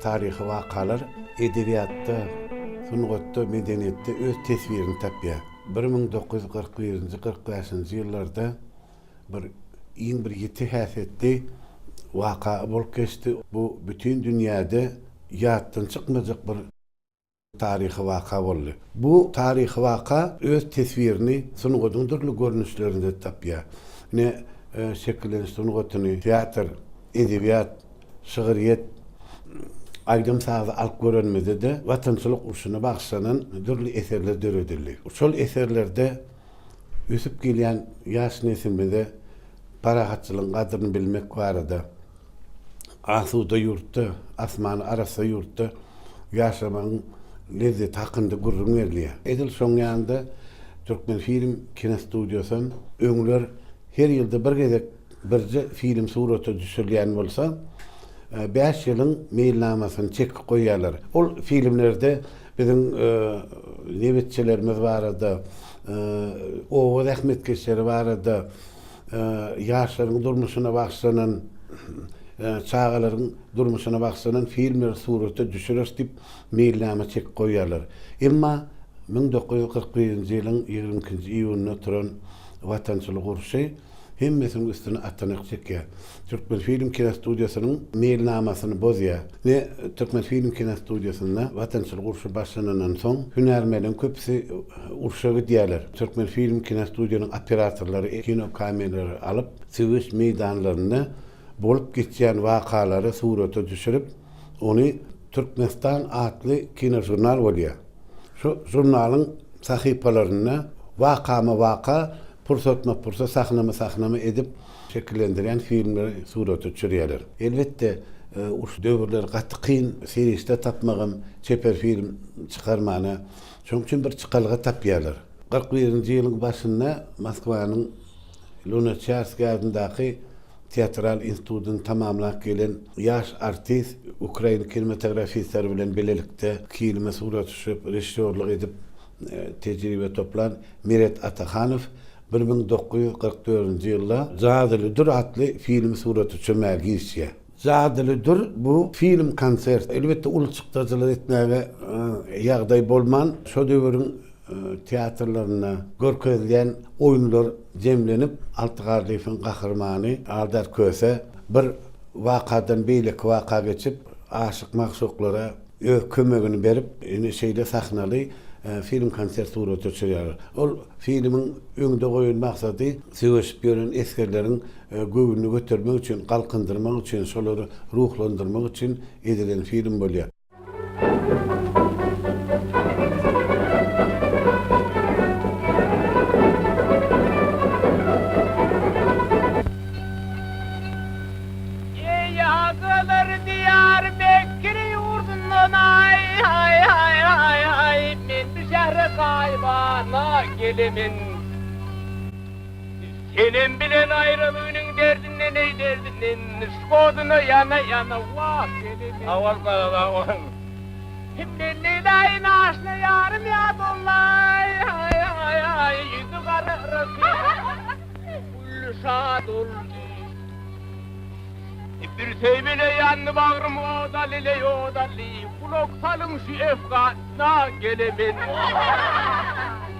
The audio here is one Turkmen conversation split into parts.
Taryhy wakalar edebiýatda, sungatda, medeniýetde öz teswirini tapýar. Bir müň dokuz ýüz kyrk birinji, kyrk bäşinji ýyllarda bir iň bir ýiti häsiýetli waka bolup geçdi. Bu bütin dünýäde ýatdan çykmajak bir. taryhy waka boldy. Bu taryhy waka öz teswirini sungatyň dürli görnüşlerinde tapýar. Ine, şekilleniş sungatyny, teatr, edebiýat, şygryýet, aýdym-sazy alyp görenimizde-de Watançylyk urşuna bagyşlanan dürli eserler döredildi. Şol eserlerde. ösüp gelýän ýaş nesilimize parahatçylygyň gadyryny bilmek barada, asuda ýurtda, asmany arassa ýurtda ýaşamagyň lezzeti hakynda gürrüň berilýär. Edil şonuň ýanynda Türkmenfilm kinostudiýasy hem öňler her ýylda bir gezek Birje film surata düşürilýän bolsa, bäş ýylyň meýilnamasyny çekip goýýarlar. Ol filmlerde biziň nebitçilerimiz barada, oba zähmetkeşleri barada, ýaşlaryň durmuşyna bagyşlanan, çagalaryň durmuşyna bagyşlanan filmleri surata düşüreris diýip, meýilnama çekip goýýarlar. Emma müň dokuz ýüz kyrk birinji ýylyň ýigrimi ikinji iýunynda turan watançylyk urşy, hemmesiniň üstüne atanak çekýär. Türkmenfilm kinostudiýasynyň meýilnamasyny bozýar we Türkmenfilm kinostudiýasynda Watançylyk urşy başlanandan soň hünärmenleriň köpüsi urşa gidýärler. Türkmenfilm kinostudiýanyň operatorlary kino kameralary alyp, söweş meýdanlarynda bolup geçýän wakalary surata düşürip, ony Türkmenistan atly kinožurnal bolýar. Şu žurnalyň sahypalarynda wakama-waka, pursatma-pursat, sahnama-sahnama edip şekillendirýän filmleri surata düşürýärler. Elbetde, şu döwürler gaty kyn serişde tapmagam çeper film çykarmana. Şonuň üçin bir çykalga tapýarlar. Kyrk birinji ýylyň başynda Moskwanyň. Lunaçarskiý adyndaky Teatral institutyny tamamlap gelen ýaş artist ukrain kinematografistleri bilen bilelikde kilime surat düşürip, režissýorlyk edip tejribe toplan Meret Atahanow bir müň dokuz ýüz kyrk dördünji ýylda Jadyly dür atly filmi surata çömä girişýär. Jadylydyr bu film konsert. Elbetde uly çykdajylar etmäge ýagdaý bolman, şo döwüriň teatrlarynda görkezilýän oýunlar jemlenip, Alty garlyfyň gahrymany Aldar Köse bir wakadan beýleki waka geçip, aşyk-magşuklara öz kömegini berip, ine şeýle sahnaly film konsert surata çyýar. Ol filmiň öňde goýan maksady söweşip ýören esgerleriň göwnüni götermek üçin, galkyndyrmak üçin, şolary ruhlandyrmak üçin edilen film bolýar. Eý agalar diýar Mekge ýurdundan aý aý aý aý aý men bu şähre gaýybana gelemen. Senem bilen aýralygynyň derdinde neý derdinden skodyna ýana ýana wah Senem ey. Awal bagda onuň. Kim bilen Leýlaýy naşyna ýarym ýat ollaý aý aý aý ýüzi gara rysy gülli şat oldy. Bir söýmele ýandy bagrym oda lile ýoda li gulak salyň şu efga na gelemen.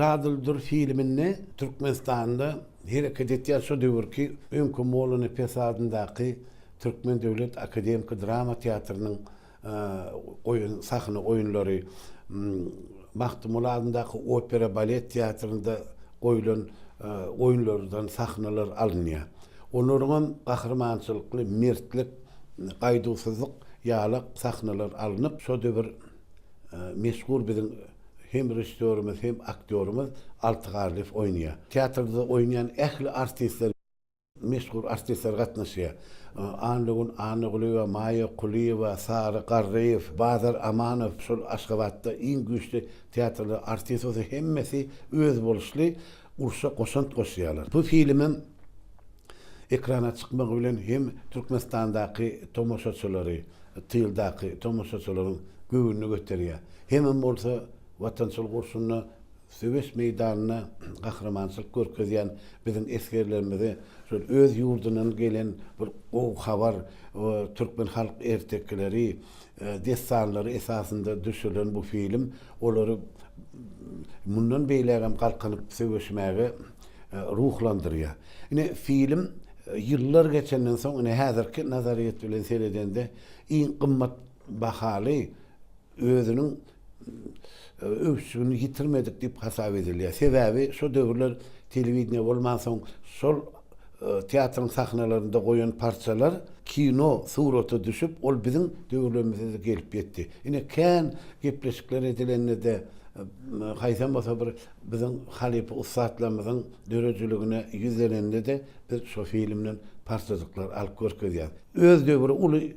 Jadyly dur filminde Türkmenistanda hereket etýän şo döwürki Öňki Molla Nepes adyndaky Türkmen döwlet akademiki drama teatrynyň goýan sahna oýunlary, Magtymguly adyndaky opera-balet teatrynda goýlan oýunlardan sahnalar alynýar. Olaryň hem gahrymançylykly mertlik, gaýduwsyzlyk ýalak sahnalar alnyp, şo döwür meşhur biziň hem režissýorymyz, hem aktýorymyz Alty Garlyýew oýnaýar. Teatrda oýnaýan ähli artistler. Meşhur artistler gatnaşýar. Annagun Annagulyýewa, Maýa Kulyýewa, Sary Garryýew, Bazar Amanow şol Aşgabatda iň güýçli teatrlaryň artisti bolsa hemmesi özboluşly urşa goşant goşýarlar. Bu filmem ekrana çykmagy bilen hem Türkmenistandaky tomaşaçylary, tyldaky tomaşaçylaryň göwnüni göterýär. Hemem bolsa watançylyk urşunda Söweş meýdanynda gahrymançylyk görkezýän biziň esgerlerimize şol öz ýurdundan gelen bir gowy habar, türkmen halk ertekileri, dessanlary esasynda düşürilen bu film olary mundan beýlägem galkynyp söweşmäge ruhlandyrýar. Ine, film ýyllar geçenden soň, ine, häzirki nazaryýet bilen seredende iň gymmat bahaly özüniň öwüşgini ýitirmedik diýip hasap edilýär. Sebäbi şo döwürler telewideniýe bolmansoň, şol teatryň sahnalarynda goýan parçalar kino surata düşüp, ol biziň döwürlerimize-de gelip ýetdi. Ine, kän gepleşikler edilende-de, haýsam bolsa bir biziň halypa ussatlarymyzyň döredijiligine ýüzlenende-de biz şo filmden parçajyklar alyp görkezýäris. Öz döwri uly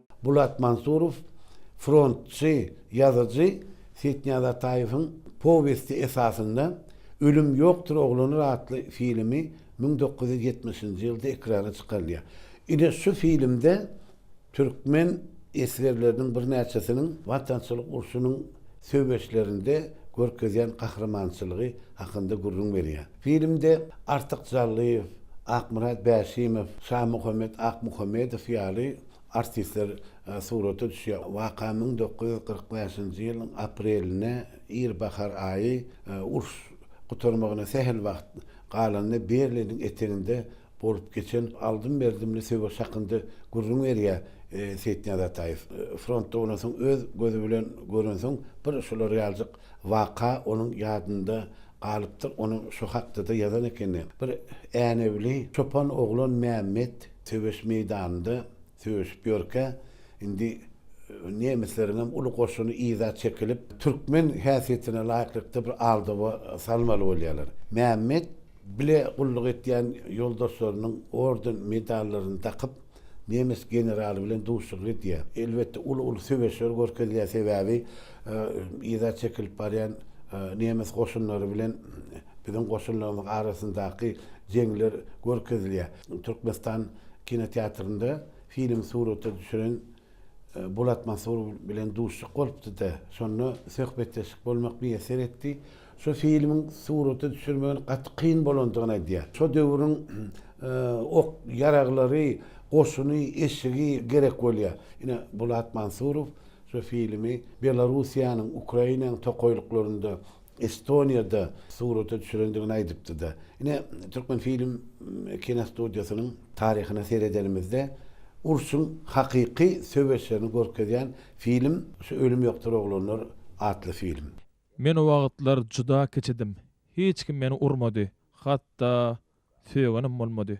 Bulat Mansurow, frontçy ýazyjy Setnýaz Ataýewiň powesti esasynda Ölüm ýokdur oglanlar atly filmi müň dokuz ýüz ýetmişinji ýylda ekrana çykarylýar. Ine şu filmde türkmen esgerleriniň birnäçesiniň Watançylyk urşunyň söweşlerinde görkezýän gahrymançylygy hakynda gürrüň berýär. Filmde Artyk Jallyýew, Akmyrat Bäşimow, Şamuhammet Akmuhammedow ýaly Artistler surata düşýär. Waka müň dokuz ýüz kyrk bäşinji ýylyň aprelinde, ir bahar aýy, uruş gutarmagyna sähel wagt galanda Berliniň eteginde bolup geçen aldym-berdimli söweş hakynda gürrüň berýär Seýitnyýaz Ataýew. Frontda bolansoň, öz gözi bilen görensoň, bir şular ýaljyk waka onuň ýadynda galypdyr, onuň şu hakda-da ýazan ekeni, Bir Änewli çopan oglan Mämmet söweş meýdanynda söweşip ýörkä, indi nemisleriňem uly goşuny yza çekilip, türkmen häsiýetine laýyklykda bir aldawa salmaly bolýarlar. Mämmet bile gulluk etýän ýoldaşlarynyň orden-medallaryny dakyp, Nemes generaly bilen duşuşyk edýär. Elbetde, uly-uly söweşler görkezýär, sebäbi yza çekilip barýan nemes goşunlary bilen biziň goşunlarymyzyň arasyndaky jeňler görkezilýär. Türkmenistan kinoteatrynda filmi surata düşüren Bulat Mansurow bilen duşuşyk bolupdy-da, şonda söhbetdeşlik bolmak miýesser etdi. Şu filmiň surata düşürmegiň gaty kyn bolandygyny aýdýar. Şo döwrüň ok, ýaraglary, goşuny, eşigi gerek bolýar. Ine, Bulat Mansurow şu filmi Belarussiýanyň, Ukrainanyň tokaýlyklarynda, Estoniýada surata düşürendigini aýdypdy-da. Ine, Türkmenfilm kinostudiýasynyň taryhyna seredenimizde, urşuň hakyky söweşlerini görkezýän film şu Ölüm ýokdur oglanlar atly film. Men o wagtlar juda kiçidim. Hiç kim meni urmady, hatda sögenem bolmady.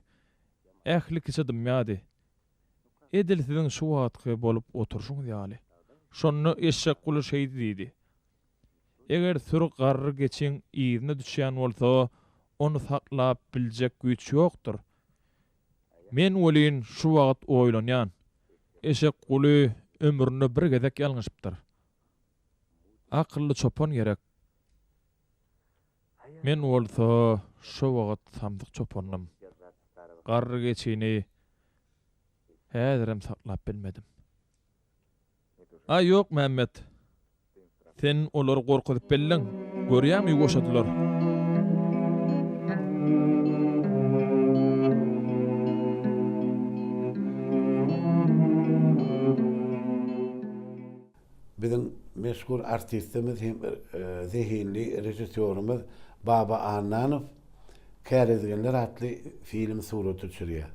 Ähli kişi dymýardy. Edil siziň şu wagtky bolup oturyşyňyz ýaly. Şonda Eşekguly şeýdi diýdi, Eger süri garry geçiň yzyna düşýän bolsa, ony saklap biljek güýç ýokdur. Men welin şu wagt oýlanýan, Eşekguly ömründe bir gezek ýalňyşypdyr. Akylly çopan gerek. Men bolsa şo wagyt samsyk çopandym. Garry geçini häzirem saklap bilmedim. Aý ýok Mämmet. Sen olary gorkuzyp belleň. Görýäňmi ýuwaşadylar. Biziň meşhur artistimiz hem zehinli režissýorymyz Baba Annanow Kärizginler atly film surata düşürýär.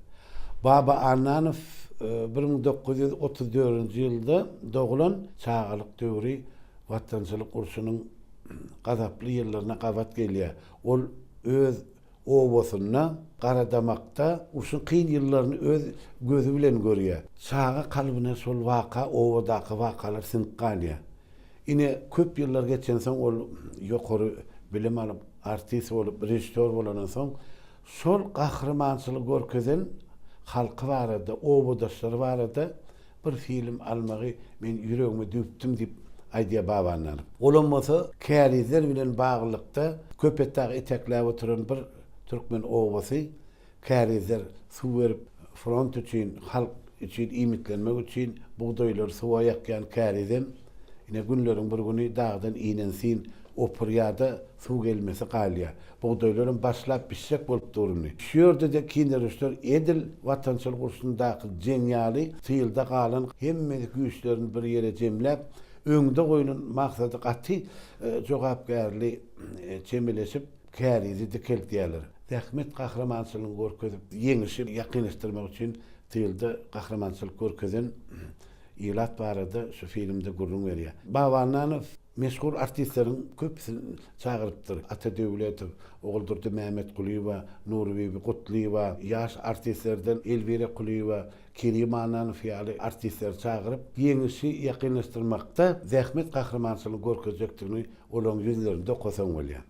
Baba Annanow bir müň dokuz ýüz otuz dördünji ýylda dogulan, çagalyk döwri Watançylyk urşunyň gazaply ýyllaryna gabat gelýär. Ol öz obasynda Garadamakda urşuň kyn ýyllaryny öz gözi bilen görýär. Çaga kalbyna şol waka, obadaky wakalar siňip galýar. Ine, köp ýyllar geçensoň ol ýokary bilim alyp, artist bolup, režissýor bolandan soň, şol gahrymançylyk görkezen halky barada, obadaşlary barada Bir film almagy men ýüregime düwüpdim diýip aýdýar Babandanov. Olam bolsa kärizler bilen baglylykda Köpetdagy etekläp oturan bir türkmen obasy, kärizler suw berip front üçin, halk üçin iýmitlenmek üçin bugdaýlary suwa ýakýan kärizem ine günleriň bir güni dagdan inensin opurýar-da suw gelmesi galýar. Bugdaýlaram başlap bişjek bolup durundy. Şu ýerde-de kindereşler edil Watançylyk urşundaky jeň ýaly tylda galan hemmesi güýçlerini bir ýere jemläp, öňde goýlan maksady gaty jogapkärli çemeleşip, kärizi dikeldýärler. Zähmet gahrymançylygyny görkezip, ýeňişi ýakynlaşdyrmak üçin tylda gahrymançylyk görkezen ilat barada şu filmde gürrüň berýär. Babannanow. Meşhur artistleriň köpüsin çagyrypdyr. Ata Döwletow, Oguldurdy Mämmetgulyýewa, Nurbibi Gutlyýewa, ýaş artistlerden Elwira Kulyýewa, Kerim Annanow ýaly artistleri çagyryp, Ýeňişi ýakynlaşdyrmakda zähmet gahrymançylygyny görkezjekdigini olaryň ýüzlerinde okasaň bolýar.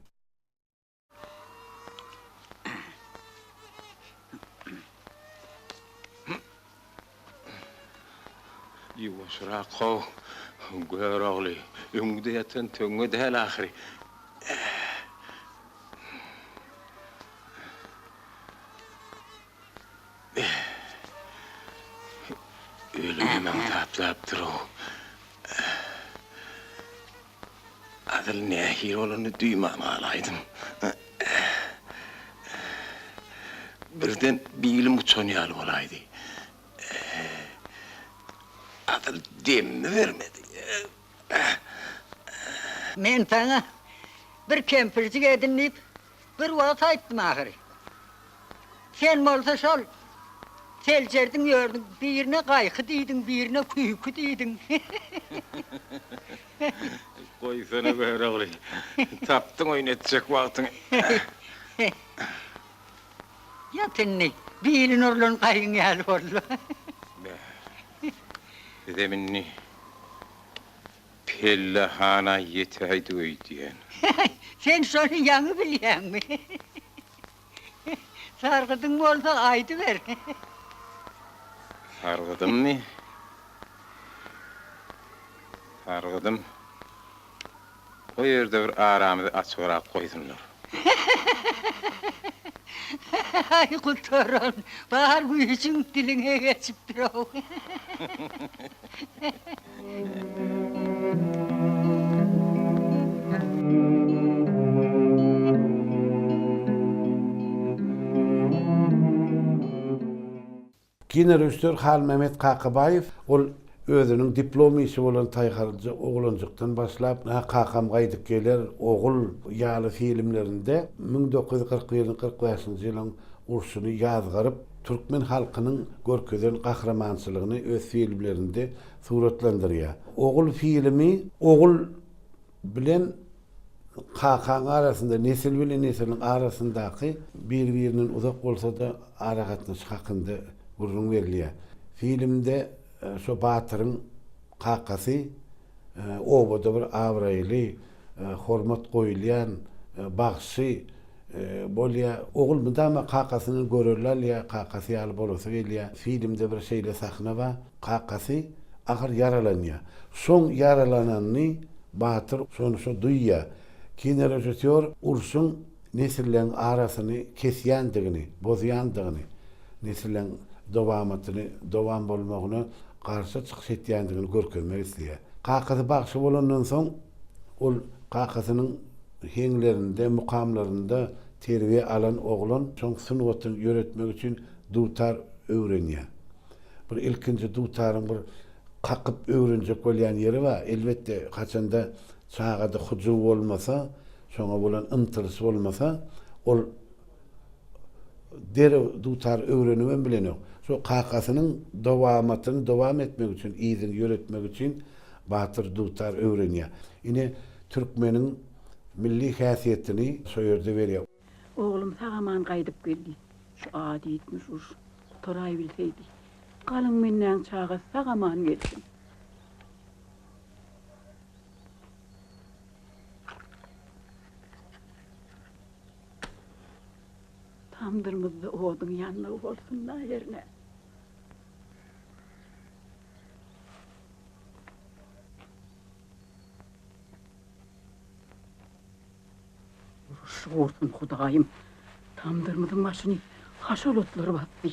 Ýuwaşrak how, Görogly, öňňüde ýatan töňňe däl ahyry. Ölümem aňtaplapdyr-ow. Adyl nähili bolanyny duýman galaýdym. Birden bilim uçan ýaly bolaýdy. Adyl demini bermedi. Men saňa bir kempirjik edin diýip, Bir wagt aýtdym ahyry. Sen bolsa şol seljerdiň ýördüň, birine gaýky diýdiň, birine küýki diýdiň. Goýsana Görogly. Tapdyň oýun etjek wagtyňy. Ýat indi, bili nurlan gaýyň ýaly boldy. Beh. Bizem indi Pellehana ýetäýdi öýdýän. Häý, sen şony ýaňy bilýäňmi? Sargydyň bolsa, aýdyber. Sargydymmy? Sargydym. O ýerde bir aramyzy açygrak goýsunlar. Häý, gutaran, bar güýjüň diliňe geçipdir-ow. Kino režissýor Halmämmet Kakabaýew ol özüniň diplom işi bolan Taýharja oglanjykdan başlap, Nä kakam gaýdyp geler, Ogul ýaly filmlerinde müň dokuz ýüz kyrk birinji kyrk bäşinji ýylyň urşuny ýazgaryp, türkmen halkynyň görkezen gahrymançylygyny öz filmlerinde suratlandyrýar. Ogul filmi ogul bilen kakaň arasynda, nesil bilen nesiliň arasyndaky bir-birinden uzak bolsa-da aragatnaşyk hakynda gürrüň berilýär. Filmde şo batyryň kakasy obada bir abraýly hormat goýulýan bagşy bolýar. Ogul mydama kakasyny görerli alýar, kakasy ýaly bolasy gelýär. Filmde bir şeýle sahna bar, kakasy agyr ýaralanýar. Şoň ýaralananyny Batyr şony-şo duýýar. Kinorežissýor urşuň nesilleň arasyny kesýändigini, bozýandygyny, nesilleň dowamatyny, dowam bolmagyna garşy çykyş etýändigini görkezmek isleýär. Kakasy bagşy bolandan soň, ol kakasynyň heňlerinde, mukamlarynda terbiýe alan oglan şoň sungaty ýöretmek üçin dutar öwrenýär. Bir ilkinji dutaryň bir kakyp öwrenjek bolýan ýeri bar. Elbetde, haçanda çagada hyjuw bolmasa, Şoňa bolan ymtylysy bolmasa, ol derew dutar, öwrenibem bilenok. Şo kakasynyň dowamatyny dowam etmek üçin, yzyny ýöretmek üçin batyr dutar öwrenýär. Ine, türkmeniň milli häsiýetini şo ýerde berýär. Oglum sag-aman gaýdyp geldi. Şu ady ýitmiş uruş gutaraý bilseýdi. Galyň mennäň çagasy sag-aman gelsin. Tamdyrymyzda oduň ýanmagy bolsun-da ýerine. Şu bolsun Hudaýym. Tamdyrymyzyň başyny haşal otlar basdy.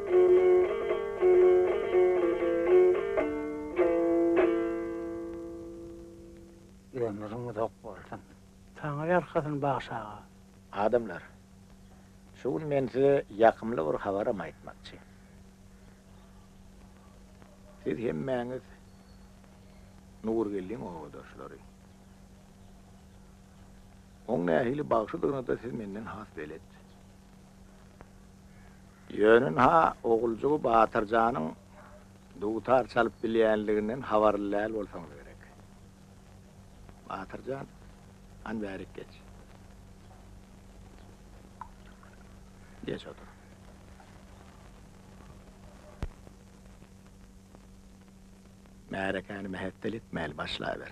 Ömrüň uzak bolsun. Saňa ýalkasyn bagşy aga. Adamlar! Şu gün men size ýakymly bir habaram aýtmakçy. Siz hemmäňiz Nurgeldiň obadaşlary. Oň nähili bagşydygyny-da siz menden has belet. Ýöne-ha Oguljygy Batyrjanyň dutar çalyp bilýänliginden habarly däl bolsaňyz gerek. Batyrjan, hany bärik geç. Geç otur. Märekäni mähetdel etmäli başlaber.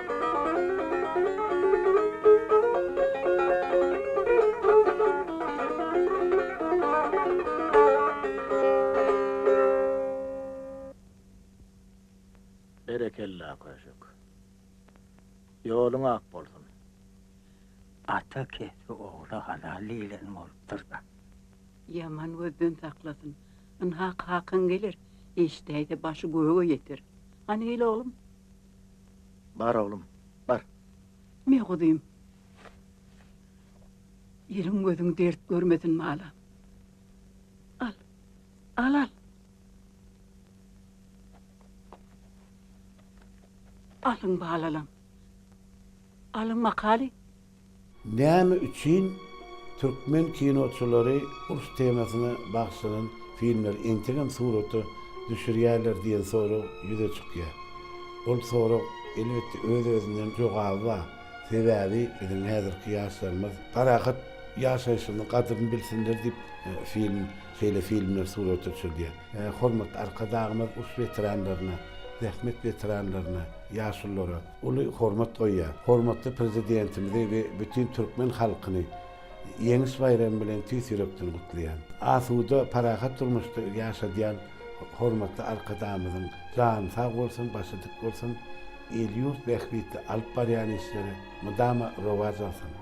Berekella köşük. Ýoluň ak bolsun. Ata kesbi ogla halal diýlen bolupdyr-da. Ýaman gözden saklasyn. Ynha kakaň geler, eşidäýse başy göge ýeter. Hany gel oglum. Bar oglum, bar. Ine, guzym. Eliň-gözüň dert görmesin, bala. Al, al-al. Alyň, balalam. Alyň, Makaly, Näme üçin türkmen kinoçylary uruş temasyna bagyşlanan filmleri entegem surata düşürýärler diýen sorag ýüze çykýar. Ol sorag, elbetde, öz-özünden jogaby bar. Sebäbi biziň häzirki ýaşlarymyz parahat ýaşaýşyny gadyryny bilsinler diýip, film, şeýle filmler surata düşürilýär. Hormatly Arkadagymyz uruş weteranlaryna, zähmet weteranlaryna, ýaşulylara. uly hormat goýýar. Hormatly Prezidentimizi we bütin türkmen halkyny Ýeňiş baýramy bilen tüýs ýürekden gutlaýan. Asuda, parahat durmuşda ýaşadýan hormatly Arkadagymyzyň jany sag bolsun, başy dik bolsun, il-ýurt bähbitli alyp barýan işleri mydama rowaç alsyn!